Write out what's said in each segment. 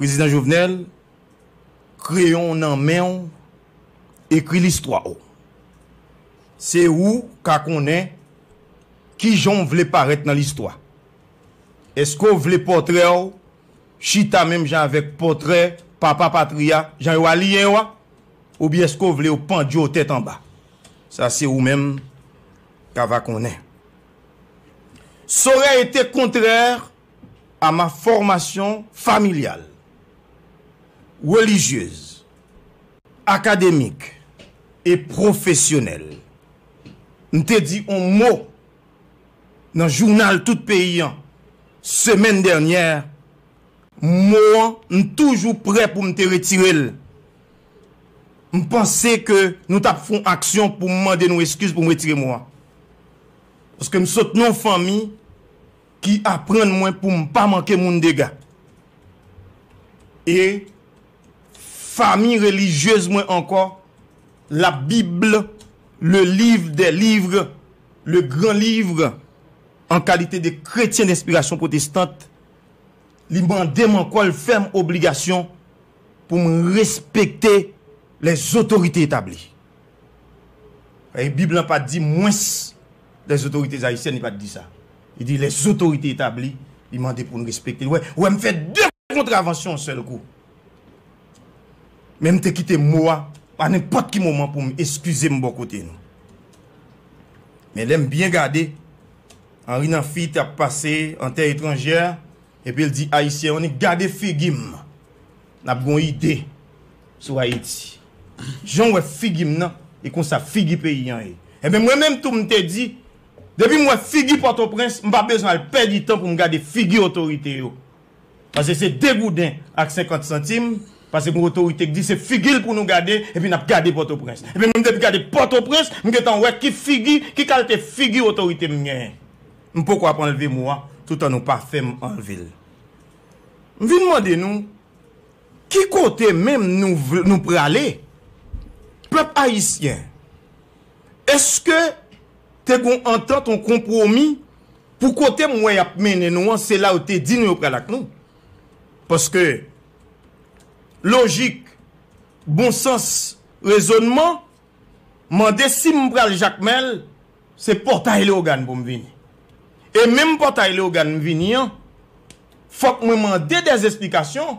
Prezidan Jovenel, kreyon w nan men w, ekri listwa w. Se ou ka konnen kijan w vle parèt nan listwa. Eske w vle pòtrè w chita menm jan avèk pòtrè papa patri a, jan yo aliyen yo a? Oubyen eske w vle yo pandye w tèt anba? Sa se ou menm ka va konnen. Sorèyte kontrè a ma formation familiale, religieuse, académique et professionnelle, m te di on mo nan jounal tout peyi an semèn dènyè, mo an m toujou prè pou m te retire l. M panse ke nou t ap fon aksyon pou m mande nou eskiz pou m retire mo an. Paske m sot nan yon fanmi. ki aprann mwen pou m pa manke moun dega e fami relijyez mwen ankò la bible le livre des livres le grand livre an kalite de kretyen denspirasyon pwotestant li mande m ankò l fè m obligasyon pou m respekte les autorites établies e bib lan pa di mwens les autorités haïtiennes li pat di sa li di les autorités établies li mande poun respekte wè wè m fè 2 kontravansyon yon sèl kou menm te kite mo a a nenpòt ki moman poum eskize m bò kote nou men lèm byen gade Henri Namphy tap pase en terre étrangère epi l di haïtien on est gade figi m. Nap gon ide sou Ayiti. Jan w wè figi m nan, e konsa figi peyi an ye. Enben mwen menm tou m te di, depi m wè figi Pòtoprens, m pa bezwen al pèdi tan pou m gade figi otorite yo. Pase se degouden ak senkant santim, pase gon otorite k di se figi l pou nou gade, epi nap gade Pòtoprens. Enben mwen m depi gade Pòtoprens, m gentan wè ki figi, ki kalte figi otorite m genyen. M poko ap anlve mo a, toutan nou pa fè m anlve l. M vin mande nou, ki kote menm nou prale? Pèp ayisyen, èske te gen yon antant, yon konpwomi pou kote m wè y ap mennen nou an, se la yo te di nou yo pral ak nou? Paske lojik, bon sans, rezonman mande si m pral Jakmèl, se Pòtay Leyogàn pou m vini. E menm Pòtay Leyogàn m vini an, fòk mwen mande dè esplikasyon,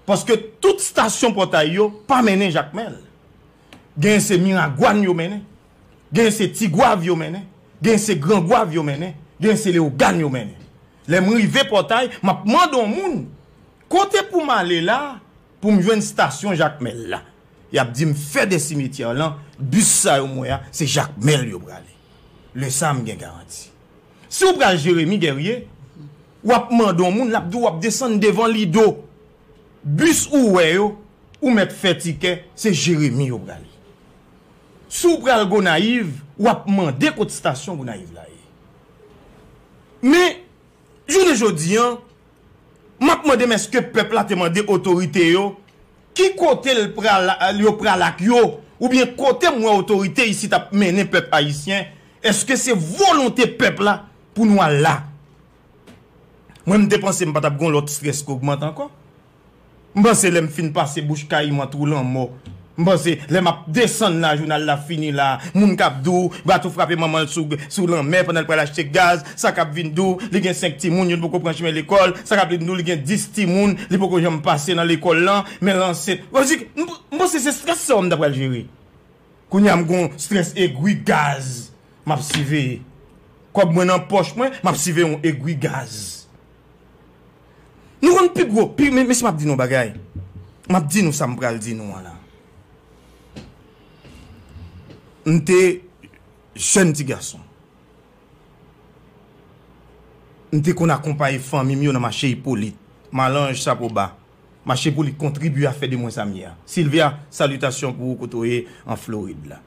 paske tout stasyon Pòtay yo pa mennen Jakmèl. Gen se Miragwàn yo mennen, gen se Tigwav yo mennen, gen se Grangwav yo mennen, gen se Leyogàn yo mennen. Lè m rive Pòtay, m ap mande yon moun, kote pou m ale la Pou m jwenn stasyon Jakmèl la, y ap di m fè de simetyè lan, bis sa yo m wè a, se Jakmèl yo prale. Lè sa a m gen garanti. Si w pral Jeremi Gèrye, w ap mande yon moun, l ap di w w ap desann devan Lido. Bis ou wè yo, ou mèt fè tikè, se Jeremi yo prale. Si w pral Gonayiv, w ap mande kot stasyon Gonayiv la ye. Men, jounen jodi an. M ap mande m èske pèp la te mande otorite yo ki kote l pral yo pral ak yo oubyen kote m wè otorite isit ap mennen pèp ayisyen èske se volonte pèp la pou nou al la mwen m te panse m pa t ap gen yon lòt strès ki ogmante ankò. M panse lè m fin pase bouch kay mwen twou lanmò m panse lè m ap desann la jounal la fini la moun kap di w bato frape manman l sou sou lanmè pandan l pral achte gaz sa kap vin di w li gen 5 timoun youn poko pran chimen lekòl sa kap vin di w li gen 10 timoun li poko janm pase nan lekòl lan men l ansent m di m panse se strès sa w m ta pral jere kounye a m gon strès egwi gaz m ap siveye kòb mwen nan pòch mwen m ap siveye yon egwi gaz. Nou konn pi gwo pi Mesye m ap di nou yon bagay M ap di nou sa m pral di nou an la M te jèn ti gason M te konn akonpaye fanmi m yo nan mache Ipolit Malanj Sapoba Mache Ipolit kontribye a fè de mwen sa m ye a Silvya salitasyon pou ou kote w ye an Florid la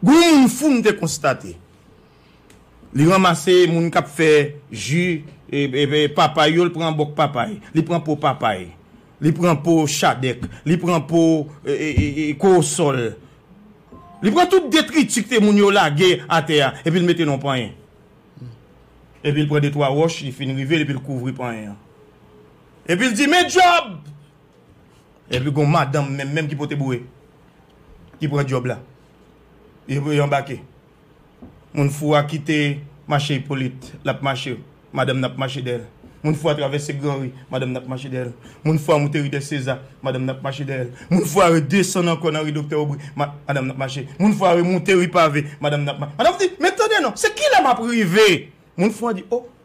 Gon yon moun fou m te konstate Li ranmase moun k ap fè ji papay yo, li pran bòk papay, li pran po papay, li pran po chadèk, li pran po kowosòl, li pran tout detriti kte moun yo lage atè a epi l mete nan yon panyen. Epi l pran detwa wòch, li fin rive l epi l kouvri panyen an. Epi l di, Men djòb! Epi gen yon madanm menm menm ki pote boure, ki pran djòb la. Epi yo anbake. Moun fou a kite mache Ipolit, l ap mache, madanm nan ap mache dèyè l. Moun fou a travèse gran ri, madanm nan ap mache dèyè l. Moun fou a moute ri dè Seza, madanm nan ap mache dèyè l. Moun fou a redesann ankò nan ri Doktè Obri, madanm nan ap mache. Moun fou a remoute ri Pave, madanm nan ap mache. Madanm di, Men tande non, se kilè m ap rive? Moun fou a di, O!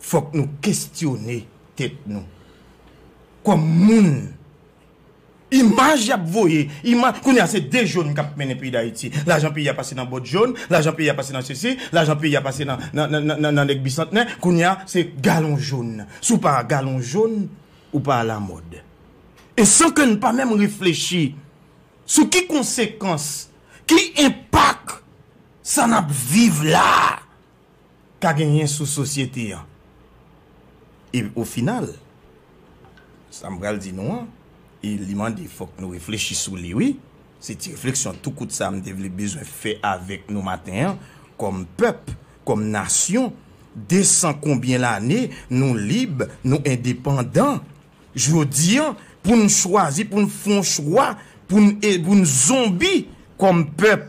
fòk nou kestyone tèt nou. Kòm moun, imaj y ap voye, imaj, kounye a se de jòn k ap mennen peyi Dayiti. Lajan peyi a pase nan bòt jòn, lajan peyi a pase nan sesi, lajan peyi a pase nan nèg bisantnè, kounye a se galon jòn. Si w pa a galon jòn, ou pa alamòd. E san ke n pa menm reflechi sou ki konsekans, ki enpak sa n ap viv la a. ka genyen sou sosyete an. E o final, sa m pral di nou an, e li mande fòk nou reflechi sou li wi, se ti refleksyon tou kout sa m te vle bezwen fè avèk nou maten an, kòm pèp, kòm nasyon, 200 konbyen lane nou lib, nou endepandan, jodi an pou n chwazi pou n fon chwa pou n zonbi kòm pèp.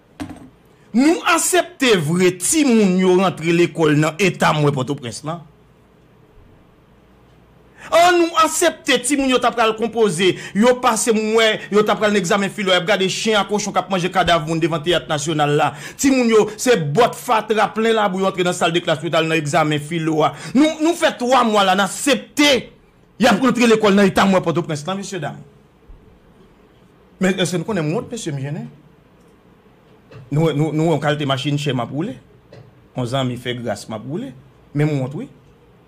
Nou asepte vre timoun yo rantre lekòl nan eta m wè Pòtoprens lan? An nou asepte timoun yo ta pral konpoze yo pase m wè yo ta pral nan egzamen filo y ap gade chen a kochon k ap manje kadav moun devan Teyat Nasyonal la. Timoun yo se bòt fatra plen labou yo antre nan sal de klas pou yo ta al nan egzamen filo a. Nou nou fè 3 mwa la n asepte y ap rantre lekòl nan eta m wè Pòtoprens lan mesyedam? Men eske nou konnen m wont mesye m jennen? Nou wè nou wè yon kalte machin chè map woule? Yon zanmi fè gras map woule? Men m wont wi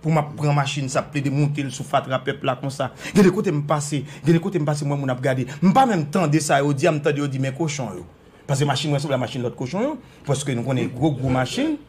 pou map pran machin sa plede monte l sou fatra pèp la konsa. Gen de kote m pase, gen de kote m pase m wè moun ap gade. M pa menm tande sa yo di a, m tande yo di men kochon yo. Pase machin mwen sanble a machin lòt kochon yo, paske nou konnen gwo gwo machin.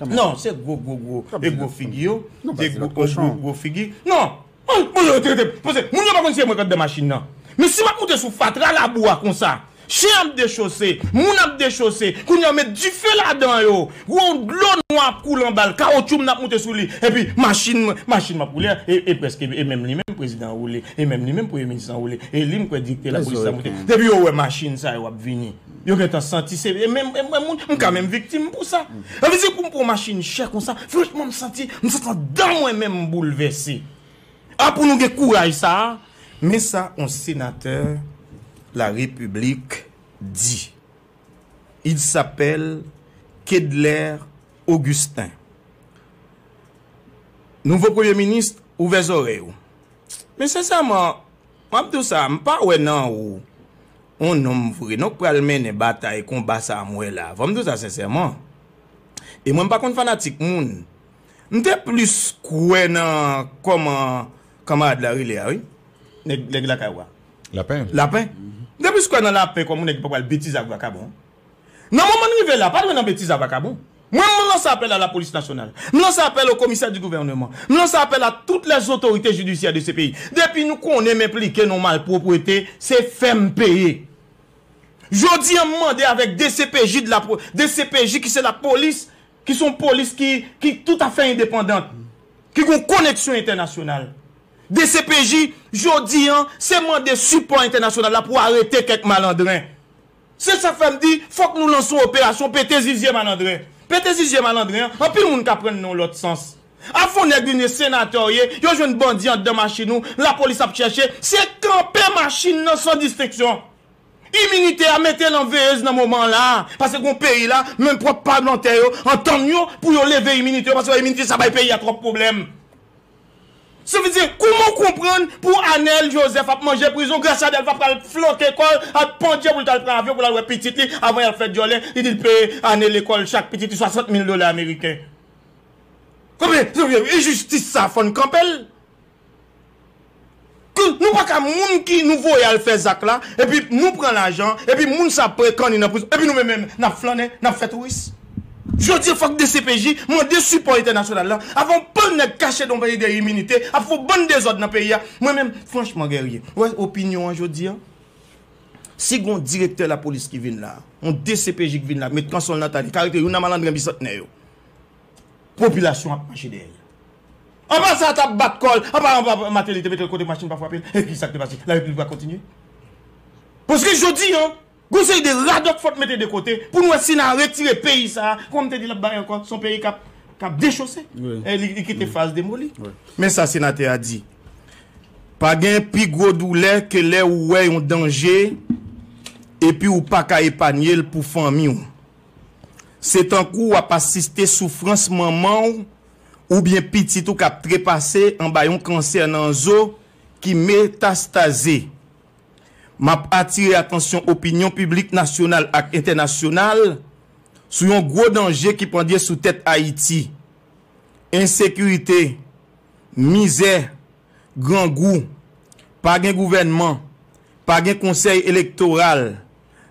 Non se gwo gwo gwo e gwo figi yo de gwo gwo gwo figi non an mwen yo trete pase moun yo pa konn si e mwen kap de machin nan men si map moute sou fatra labou a konsa chen ap dechose moun ap dechose kounye yo met dife ladan yo gwo dlo nwa ap koule anbal kawotchou mnap moute sou li epi machin mwen machin map woule a e preske e menm li menm prezidan an woule e menm li menm premye minis lan woule e li mkwè dikte lapolis la moute depi yo wè machin sa yo ap vini. Yo gentan santi se e menm e mwen moun m ka menm viktim pou sa. Sa vle di pou m pran yon machin chè konsa franchman m santi m santi andan mwen menm m boulvèse. A pou nou gen kouraj sa a. Men sa yon senatè la repiblik di. Il sapèl Kedler Ogisten. Nouvo premye minis ouvè zòrèy ou. Men sensèman m ap di w sa m pa wè nan ou. on nonm vre non k pral mennen batay konba sa m wè la. Fò m di w sa sensèman, e mwen m pa konn fanatik moun, m te plis kwè nan kòman kanmarad la rele a wi, nèg lakay ou a? Lapen. Lapen? M te plis kwè nan Lapen kòm on nèg ki pa pral betize ak vakabon. Nan moman n rive la, pa dwe nan betiz a vakabon. Mwen menm m lanse apèl a lapolis nasyonal, m lanse apèl o komisè di gouvèneman, m lanse apèl a tout lè zotorite jidisyè de se peyi. Depi nou konnen m enplike nan w malpwoprete, se fè m peye. Jodi an m mande avèk dcpj de la, dcpj ki se lapolis, ki se yon polis ki, ki tout a fè endepandant, ki gen yon koneksyon entènasyonal. Dcpj, jodi an, se mande sipò entènasyonal la pou arete kèk malandren. Se sak fè m di fòk nou lanse yon operasyon pete zizye malandren. Pete zizye malandren an, anpil moun ka prann nan yon lòt sans. Avan yon nèg vin ye senatè w ye, yo jwenn bandi anndan machin ou, lapolis ap chèche, se kanpe machin nan san distenksyon. Iminite a mete l an veyez nan moman an la a, paske gon peyi la, menm pwòp palmantè yo antann yo pou yo leve iminite yo paske yo wè iminite sa bay peyi a twòp pwoblèm. Sa vle di, kouman w konprann pou Anel Joseph ap manje prizon, Graciadel pa pral floke kò l ak pandje pou l t al pran avyon pou l al wè pitit li avan y al fè dyòlè, li di l peye ane lekòl chak pitit li 60 mil dola ameriken. Sa vle di, enjistis sa a fò n kanpe l. Humm nou paka moun ki nou voye al fè zak la epi nou pran lajan epi moun sa ap pran kanni nan prizon epi nou menm nap flannen nap fè touris jodi fòk dcpj mande sipò entènasyonal la avan yon bann nèg kache nan peyi dèyè iminite ap fè yon bann dezòd nan peyi a mwen menm franchman Guerrier ou wè opinyon an jodi an si gon direktè lapolis ki vin la yon dcpj ki vin la met kanson l nan tay li ka rete youn nan malandren bisantnè yo popilasyon ap mache dèyè l. Anvan sa a t ap bat kò l anba anba Mateli te mete l kote machin pa frape l. E ki sa k te pase? La replik va kontinye. Paske jodi an, gon seri de radòt fòk n mete de kote pou n wè si n a retire peyi sa a, kòman m te di l ap bay ankò, s on peyi k ap k ap dechose. Li kite fraz demoli. Men sa senatè a di, Pa gen pi gwo doulè ke lè ou wè yon danje epi ou pa ka epanye l pou fanmi w. Se tankou w ap asiste soufrans manman w oubyen pitit ou k ap trepase anba yon kansè nan zo ki metastaze. M ap atire atansyon opinyon piblik nasyonal ak entènasyonal sou yon gwo danje ki pandye sou tèt Ayiti. Ensekirite, mizè, grangou, pa gen gouvènman, pa gen konsèy elektoral,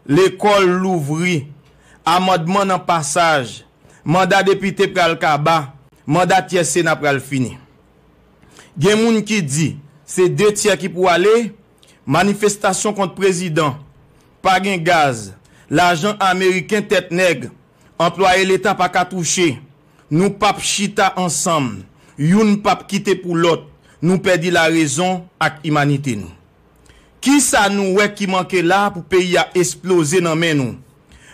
lekòl louvri, amandman nan pasaj, manda depite pral kaba, manda tyè sena pral fini. Gen moun ki di se 2 tyè ki pou ale, manifestasyon kont prezidan, pa gen gaz, lajan ameriken tèt nèg Anplwaye leta pa ka touche. Nou pap chita ansanm. Youn pap kite pou lòt. Nou pèdi larezon ak imanite nou. Kisa nou wè ki manke la pou peyi a esploze nan men nou?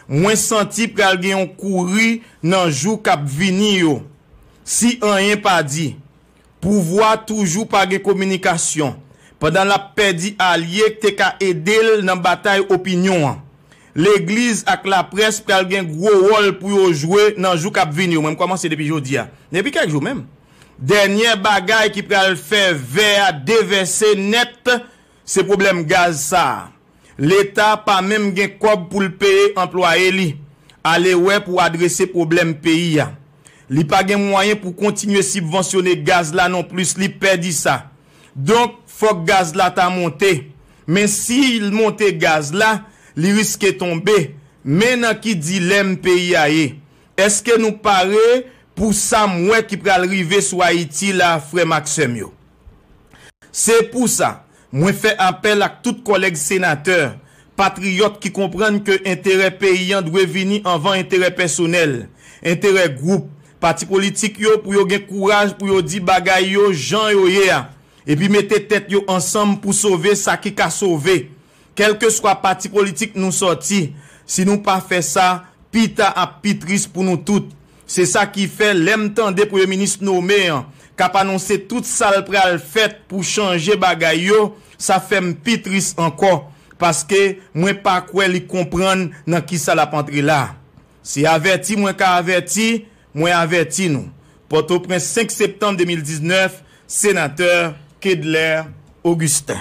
Mwen santi pral gen yon kouri nan jou kap vini yo. Si anyen pa di, Pouvwa toujou pa gen kominikasyon pandan l ap pèdi alye k te ka ede l nan batay opinyon an. Legliz ak laprès pral gen gwo wòl pou yo jwe nan jou k ap vini yo, mwen m kòmanse depi jodi a, depi kèk jou menm. Dènyè bagay ki pral fè vè a devèse nèt Se pwoblèm gaz sa a. Leta pa menm gen kòb pou l peye anplwaye li alewè pou adrese pwoblèm peyi a. Li pa gen mwayen pou kontinye sibvansyone gaz la non plis li pè di sa. Donk fòk gaz la ta monte. Men si l monte gaz la, li riske tonbe. Men nan ki dilèm peyi a ye. Eske nou pare pou sa m wè ki pral rive sou Ayiti la frè m ak sè m yo? Se pou sa, mwen fè apèl ak tout kòlèg senatè, patriyòt ki konprann ke enterè peyi an dwe vini anvan enterè pèsonèl, enterè gwoup, pati politik yo pou yo gen kouraj pou yo di bagay yo jan yo ye a, epi mete tèt yo ansanm pou sove sa ki ka sove. Kèlkeswa pati politik nou sòti, si nou pa fè sa, pi ta ap pi tris pou nou tout. Se sa ki fè lè m tande Premye Minis nome an k ap anonse tout sa l pral fèt pou chanje bagay yo, sa fè m pi tris ankò, paske mwen pa kwè li konprann nan ki sa l ap antre la. Se avèti mwen ka avèti, mwen avèti nou. Pòtoprens 5 septanm 2019, Senatè Kedlaire Augustin.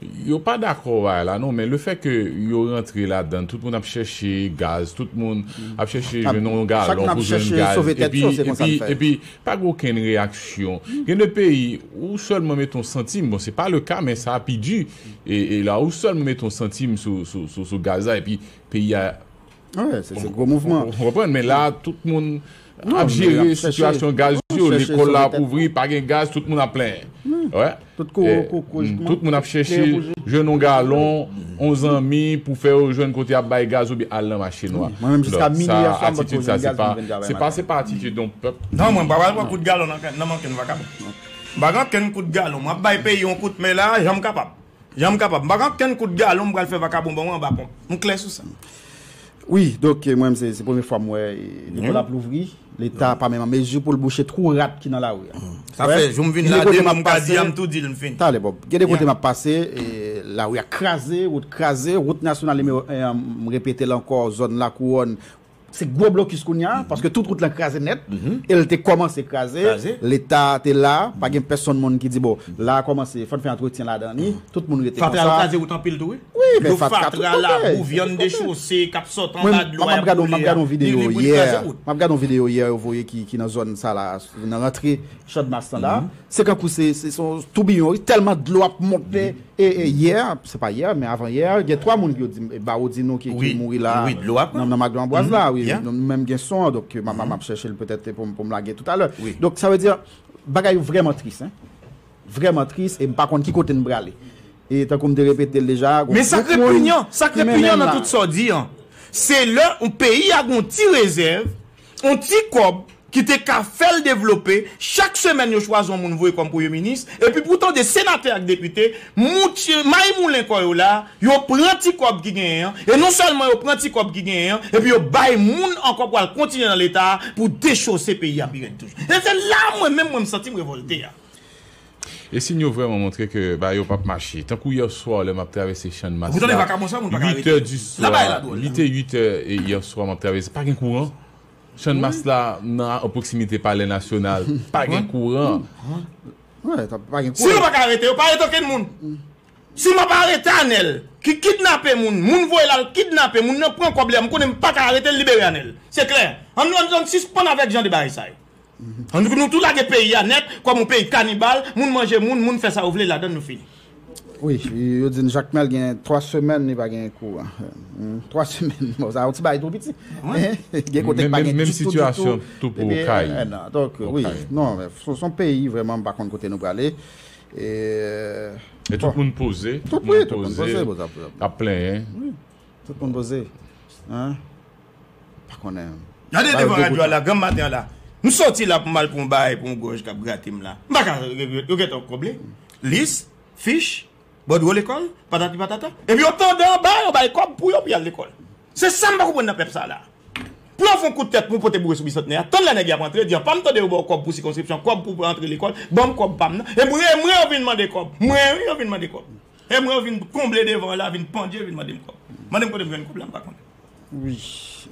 Yo pa dakò bagay la non men le fè ke yo rantre ladann tout moun ap chèche gaz tout moun ap chèche jwenn yon galon pou jwenn gaz epi epi epi pa gen okenn reyaksyon gen de peyi ou sèlman mete yon santim bon se pa le ka men sa pi di e e la ou sèlman mete yon santim sou sou sou gaz la epi peyi a Wè, se gwo mouvman. Ou konprann, men la tout moun ap jere sitiyasyon gaz yo, lekòl la ap ouvri, pa gen gaz, tout moun ap plenyen. Wè, tout moun ap chèche jwenn yon galon, yon zanmi pou fè yo jwenn kote y ap bay gaz oubyen al nan mache nwa. Atitid sa, se pa, se pa, se pa atitid yon pèp. Non, mwen pa pral pran kout galon nan men ankenn vakabon. M pa gen ankenn kout galon. M ap bay peyi yon kout men la jan m kapab. Jan m kapab. M pa gen okenn kout galon m pral fè vakabon ban mwen anba ponp. M klè sou sa. Wi, donk mwen menm se premye fwa m wè lekòl ap louvri, leta pa menm an mezi pou l bouche twou rat ki nan lari a. Sa fè jou m vin la de moun pa di a m tou di l m fini. Talè Bòb. Gen de kote m ap pase, lari a kraze, wout kraze, wout nasyonal nimewo 1 an m repete l ankò zòn Lakouwòn Se gwo blokis kounya paske tout wout lan kraze nèt e l te kòmanse kraze, leta te la, pa gen pèsonn moun ki di bon la a kòmanse fò n fè antretyen ladan li, tout moun rete konsa. Fatra yo kraze wout anpil tou wi. Wi men fatra tout kote. Dlo fatra, labou, vyann dechose k ap sot anba dlo a y ap boule a, li boule kraze wout. M ap gade yon videyo yè yo voye ki nan zòn sa la, nan rantre Chandmas lan la, se kankou se toubiyon wi, tèlman dlo ap monte. E yè, se pa yè, men avan yè, gen 3 moun yo dim, Baro di nou ki mouri la nan Maglo Anbwaz la, wi, nou menm gen son an, donk map chèche l petèt pou m lage tout alè. Donk sa vle di, bagay yo vrèman tris, hein. Vrèman tris e m pa konn ki kote n prale. E tankou m te repete l deja, gon gwoup moun ki mennen n la. Men sa k repinyan, sa k repinyan nan tout sa w di an, se lè yon peyi a gon ti rezèv, On ti kòb ki te ka fè l devlope, chak semèn yo chwazi on moun voye kòm premye minis, epi pou tande senatè ak depite, moutye, maymoulen kò yo la, yo pran ti kòb ki genyen an, e non sèlman yo pran ti kòb ki genyen an, epi yo bay moun ankò pou al kontinye nan leta a pou dechouse peyi a pi rèd toujou. E se la mwen menm mwen m santi m revòlte a. E sin yo vrèman montre ke bagay yo pap mache. Tankou yè swa lè map travèse channmas la 8 è di swa li te 8 è yè swa map travèse pa gen kouran channmas la nan an pwoksimite palè nasyonal pa gen kouran. Si yo paka arete yo pa arete okenn moun. Si map arete anèl ki kidnape moun, moun voye la al kidnape moun nan pran kòb li a m konnen m paka arete l libere anèl. Se klè. An nou an nou sispann avèk jan de bagay sa yo. Annik nou tou lage peyi a nèt kòm yon peyi kanibal, moun manje moun, moun fè sa yo vle ladann nou fini. Wi, yo di m Jakmèl gen 3 semèn li pa gen kou an. 3 semèn, bon sa yon ti bagay tou piti. Gen kote ki pa gen ditou ditou. Depi 1 an. Donk wi, non, se yon peyi vrèman m pa konn kote nou prale. E tout moun poze, tout moun poze, ap plenyen. Tout moun poze hein pa konnen. Gade devan radyo a la granm maten an la M soti la pou m al pran yon bagay pou yon gòj k ap grate m la M pa ka regrèt Yo gentan konble lis, fich, bòdwo lekòl, patati patata Epi yo tande anba yo bay kòb pou yo pou y al lekòl Se sa m pa konprann nan pèp sa la a Pou yo fè yon kout tèt pou yo pote boure sou Bisantnè a Tann lè nèg y ap antre di anpam tande yo ba w kòb pou sikonskripsyon kòb pou w antre lekòl Ban m kòb pa m nan E m renmen yo vin mande kòb M renmen yo vin mande kòb. Em ran vin konble devan la vin pandye vin mandem kob. Mandem kotem jwenn kob la mpa konnen. Wi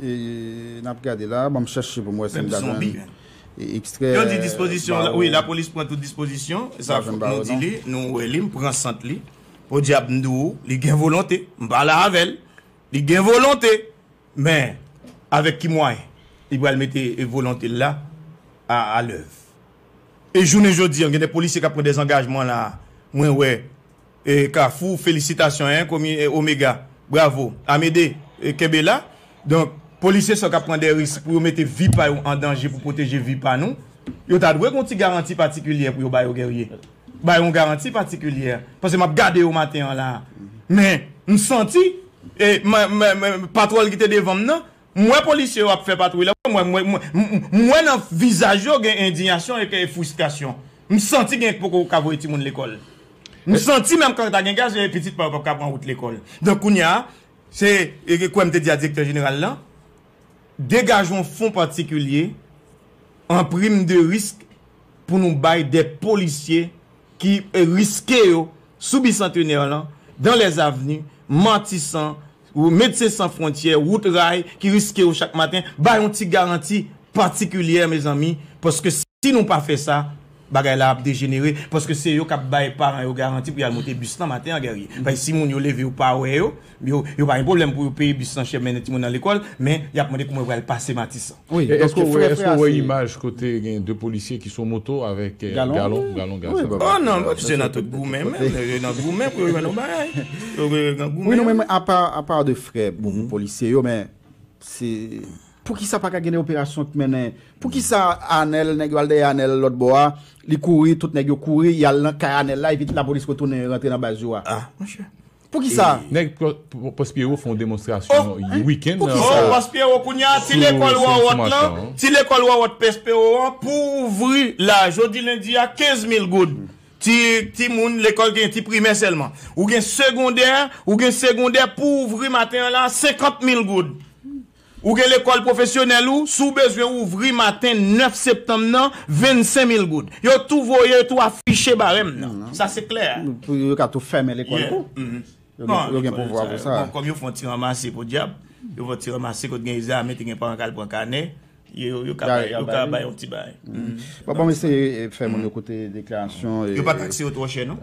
e nap gade la banm chache poum wè sim ta jwenn ekstrè baron wi lapolis pran tout dispozisyon sa fout nou di li nou wè li mpran sant li podyab mdi w li gen volonte mpa la avèl li gen volonte men avèk ki mwayen li pral mete volonte l la a lèv. E jounen jodi an gen de polisye kap pran dezangajman la a mwen wè e kafou felisitasyon en komi e omega bravo amede e kenbe la donk polisye sa yo kap pran de risk pou yo mete vi pa yo an danje pou pwoteje vi pa nou yo ta dwe gon ti garanti patikilyè pou yo ba yo guerye bay on garanti patikilyè pase map gade yo maten an la a men m santi e men men patwòl ki te devan m nan M wè polisye yo ap fè patwouy la. M wè, m wè nan vizaj yo gen endinyasyon e ke fristrasyon. M santi gen poko ka voye timoun lekòl. M santi menm kan ta gen gaz e pitit pa yo pap ka pran wout lekòl. Donk kounya, se, e ke kwè m te di a direktè jeneral lan, degaje yon fon patikilye an prim de risk pou nou bay de polisye ki riske yo sou Bicentenaire lan, Danlèzavni, Matisan, Medsen San Fwontyè, Wout Ray ki riske yo chak maten, ba yon ti garanti patikilyè mezanmi, paske si nou pa fè sa, bagay la ap dejenere, paske se yo k ap bay paran yo garanti pou y al monte bis lan maten an Guerrier. Paske si moun yo leve yo pa wè yo, yo pa gen pwoblèm pou yo peye bis lan chè mennen timoun nan lekòl, men y ap mande kouman yo pral pase Matisan. Eske w wè imaj kote gen 2 polisye ki sou moto avèk galon gaz la? Oh non, polisye yo nan tout goumen menm, yo nan goumen pou yo jwenn yon bagay. Wi non men apa de frè pou polisye yo men se poukisa pa ka gen yon operasyon k mennen, poukisa Anèl nèg yo al dèyè Anèl lòt bò a, li kouri, tout nèg yo kouri, y al nan kay Anèl la epi lapolis retounen rantre nan baz yo a? Ah monchè, Poukisa? Nèg Prospero fè yon demonstrasyon yon weekend nan. Oh poukisa? Oh Prospero kounye a ti lekòl wòwòt lan, ti lekòl wòwòt Pespero an pou ouvri la jodi lendi a 15 mil goud. Ti ti moun lekòl gen ti primè sèlman. Ou gen segondè, ou gen segondè pou ouvri maten an la 50 mil goud. Ou gen lekòl pwofesyonèl ou, si w bezwen ouvri maten 9 septanm nan, 25 mil goud. Yo tou voye, yo tou afiche barèm nan. Sa se klè. Pou yo ka tou fèmen lekòl tou. Yo gen pouvwa pou sa. Bon, kòm yo fè yon ti ranmase, podyab, yo fè yon ti ranmase kote gen egzamen, te gen paran k al pran kanè, yo ka bay yon ti bagay. Bon, bon m eseye fè moun yo koute deklarasyon. Yo pa takse yo twò chè non.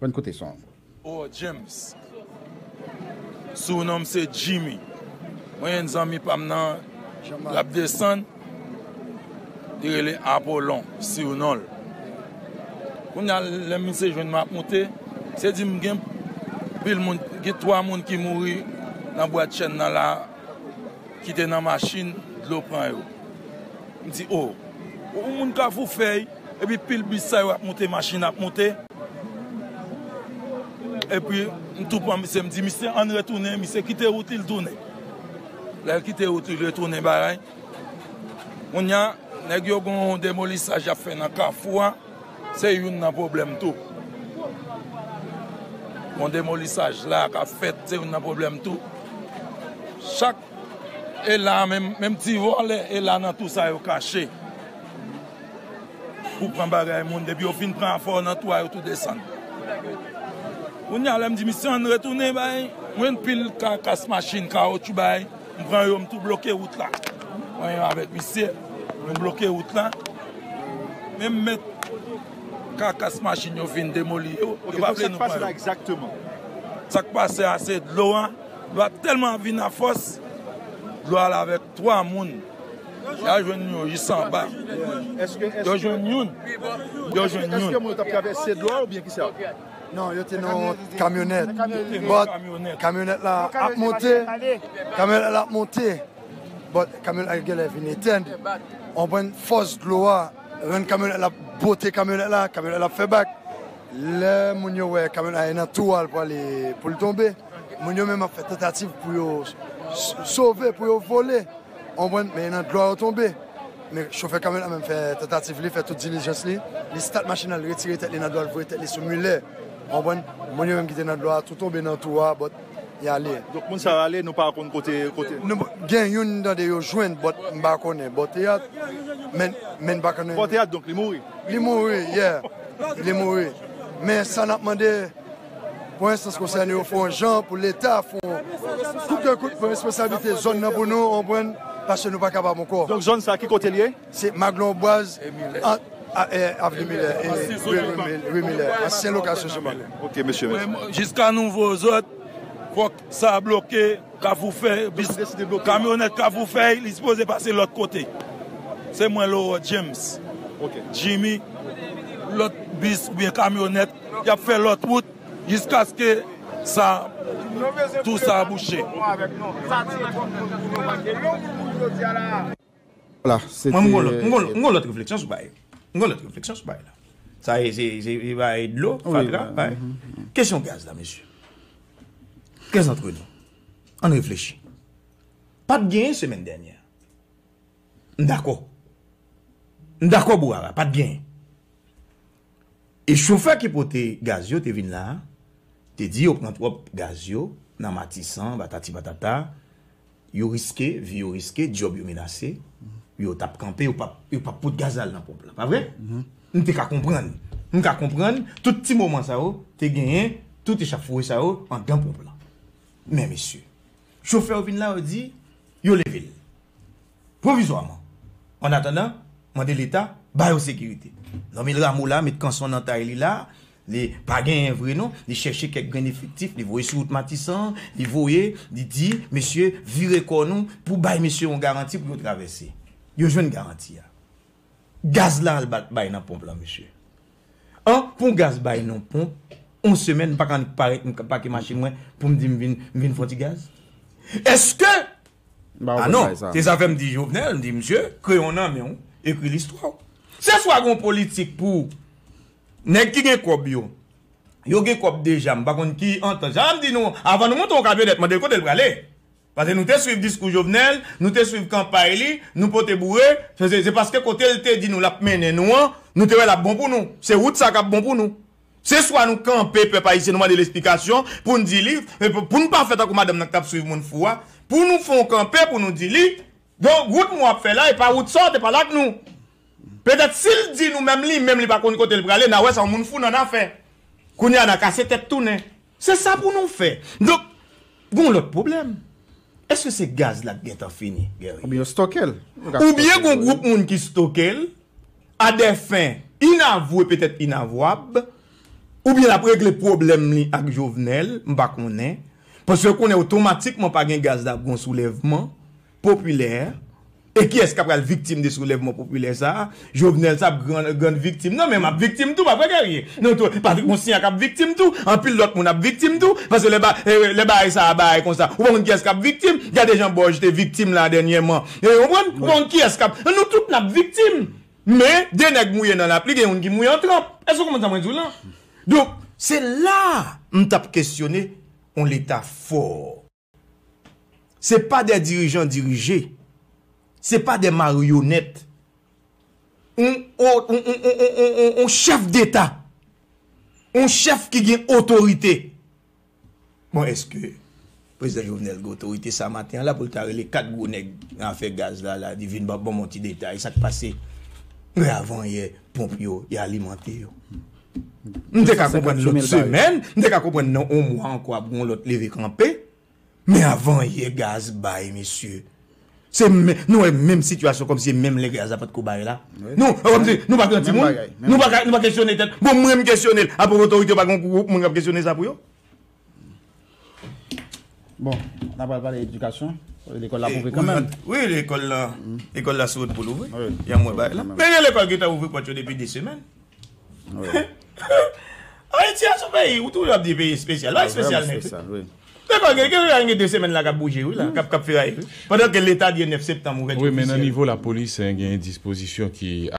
Bann kote son. Ohh James Sou nonm se Jimmy Mwen gen zanmi pam nan lap desann Li rele Apollon Sou nonl Kounya lèm misye jwenn map moute Se dim gen pil moun Gen 3 moun ki mouri nan bwat chen nan la ki te nan machin dlo pran yo. M di o! Yon moun kafou fèy epi pil bis sa yo ap moute machin ap moute. Epi m tou pran misye m di misye ann retounen misye kite wout li l tounen. Lè l kite wout li l retounen bagay. Kounya nèg yo gon demolisaj y ap fè nan kafou a. Se youn nan pwoblèm tou. Bon demolisaj la k ap fèt se youn nan pwoblèm tou. Chak e la menm, menm ti vòlè e la nan tou sa yo kache pou pran bagay moun. Depi yo fin pran afè w nan tou a yo tou desann. Kounye a lè m di misye ann retounen bay mwen pil kakas machin, kawotchou bay. M pran yo m tou bloke wout la. Mwen yo avèk misye nou bloke wout la. Men m met kakas machin yo fin demoli yo. Ok donk sak pase la egzakteman. Sak pase a se dlo a. Dlo a tèlman ap vin a fòs. Dlo al avèk 3 moun. Ya jwenn yo jis anba. Yo jwenn youn. Yo jwenn youn. Eske moun yo tap travèse dlo a oubyen kisa? Non yo te nan kamyonèt but kamyonèt la ap monte kamyonèt la ap monte but kamyonèt la genlè vin etèn ou konprann fòs dlo a rann kamyonèt la pote kamyonèt la kamyonèt la ap fè bak lè moun yo wè kamyonèt la nan twou a l prale pou l tonbe moun yo menm ap fè tantativ pou yo sove pou yo vole ou konprann men nan dlo a yo tonbe. Men chofè kamyon nan menm fè tantativ li, fè tout dilijans li. Li stat machin nan, li retire tèt li nan dlo a, li voye tèt li sou milè. Ou konprann? Moun yo menm ki te nan dlo a tou tonbe nan tou a, bòt, y ale. Donk moun sa yo ale, nou pa konn kote, kote? Nou, gen youn m tande yo jwenn, bòt, m pa konnen. Bò teyat, men, men m pa konnen. Bò teyat, donk li mouri? Li mouri, yeah. Li mouri. Men sa n ap mande. Pou enstans konsène yo fè yon jan pou leta fè yon kout de kout pou responsablite zòn nan pou nou, ou konprann, paske nou pa kapab ankò. Donk zòn sa ki kote l ye? Se Maglon Bwaz ant avni Milè e rue Milè, ansyen lokasyon sou Maglon. Ok mesye mèsi. Jiska nouvo zòd fòk. Sa a bloke kafou fè bis kamyonèt kafou fèy li sipoze pase lòt kote se mwen Laurent James Jimmy lòt bis oubyen kamyonèt yap fè lòt wout jiskaske sa tou sa bouche. Mwen m gon lòt refleksyon sou bagay m gon lòt refleksyon sou bagay la sa e se e bagay dlo fatra bagay kesyon gaz la mesye kè zantre nou ann reflechi pa t gen semèn dènyè m dakò m dakò bou ara pa t gen E chofè ki pote gaz yo te vin la, te di yo pran twòp gaz yo nan Matisan, patati patata, yo riske, vi yo riske, dyòb yo menase, yo t ap kanpe, yo pa p pot gaz la al nan ponp la. Pa vre? M te ka konprann. M ka konprann tout ti moman sa yo te genyen, tout echafoure sa yo andan ponp la. Men mesye, chofè yo vin la, yo di, yo leve l. pwovizwaman. Annatandan, mande Leta ba yo sekirite. Normil Rameau la met kanson nan tay li la, li pa genyen vre non, li chèche kèk grenn efektif, li voye sou wout Matisan, li voye, li di, mesye, vire kò nou pou bay mesye yon garanti pou yo travèse. Yo jwenn garanti a. Gaz la al bay nan ponp lan, mesye. An, pou yon gaz bay nan ponp, yon semèn, m pa ka annik parèt, m ka pake machin mwen pou m di m vin fon ti gaz? Èske. Ah non, se sa fè m di Jovenel, m di misye, kreyon nan men w, ekri listwa w. Se swa gen yon politik pou nèg ki gen kòb yo, yo gen kòb deja, m pa konn ki antant. Sa m di nou, avan nou monte yon kamyonèt, mande l kote l prale. Pase nou te swiv diskou Jovenel, nou te swiv kanpay li, nou pote boure, se paske kote l te di nou l ap mennen nou an, nou te wè l ap bon pou nou. Se wout sa k ap bon pou nou. Se swa nou kanpe pèp ayisyen nou mande l esplikasyon pou n di li, pou n pa fè tankou madanm nan k t ap swiv moun fou a, pou nou fè yon kanpe pou nou di li, donk wout mwen w ap fè la e pa wout sa w te pale ak nou. Petèt si l di nou menm li menm li pa konn kote l prale n a wè sa yon moun fou nan n a fè. Kounye a n a kase tèt tounen. Se sa pou nou fè. Donk, gen yon lòt pwoblèm. Èske se gaz la ki gen tan fini, Guerrier? Oubyen yo stoke l. Oubyen gen yon gwoup moun ki stoke l, a dè fen inavwe petèt inavwab, oubyen l ap regle pwoblèm li ak Jovenel, m pa konnen. Paske yo konnen otomatikman pa gen gaz la ap gen yon soulèvman. popilè, e kiyès kap pral viktim de soulèvman popilè sa a, Jovenel sa ap grand viktim nan, men map viktim tou pa vre Guerrier, nou tou, Patrick Mousniak ap viktim tou, anpil lòt moun ap viktim tou, paske lè bagay sa a bagay konsa, ou pa konn kiyès kap viktim, gade jan Boj te viktim la dènyèman, ou konprann, ou pa konn kiyès kap, nou tout nap viktim, men de nèg mouye nan lapli gen youn ki mouye an tranp, èske ou konprann sa mwen di w lan? Donk, se la a m tap kesyone yon leta fò. Se pa de dirijan dirije. Se pa de maryonèt. On, on, on, on, on, on, on, on, on chèf deta. On chèf ki gen otorite. Bon, eske Prezidan Jovenel gen otorite sa maten an la pou l ta rele 4 gwo nèg nan afè gaz la la di vin banm, banm on ti detay sa k pase? Mwen avan yè ponp yo, y alimante yo. M te ka konprann lòt semèn, m te ka konprann nan on mwa ankò ap gon lòt leve kanpe, men avanyè gaz bay mesye, se men, nou wè menm sitiyasyon kòmsi se menm lè gaz la patko bay la. Nou, wè kòmsi, nou pa pran timoun, nou pa kesyone tèt, bon mwen m kesyone l, apan otorite yo pa gen on gwoup moun k ap kesyone sa pou yo? Bon, n apral pale edikasyon. Lekòl la ap ouvri kanmenm. Wi, lekòl la, lekòl la sou wout pou l ouvri. Jan m wè bagay la. Men gen lekòl ki ta ouvri pòt yo depi 2 semèn. Ayiti a s on peyi, ou toujou ap di peyi espesyal. Li pa espesyal menm. Lekòl gen, gen lekòl gen 2 semèn la k ap bouje wi la, k ap feraye wi. Pandan ke leta di e 9 septanm ouvèti ofisyèl. Wi, men nan nivo lapolis, gen dispozisyon ki.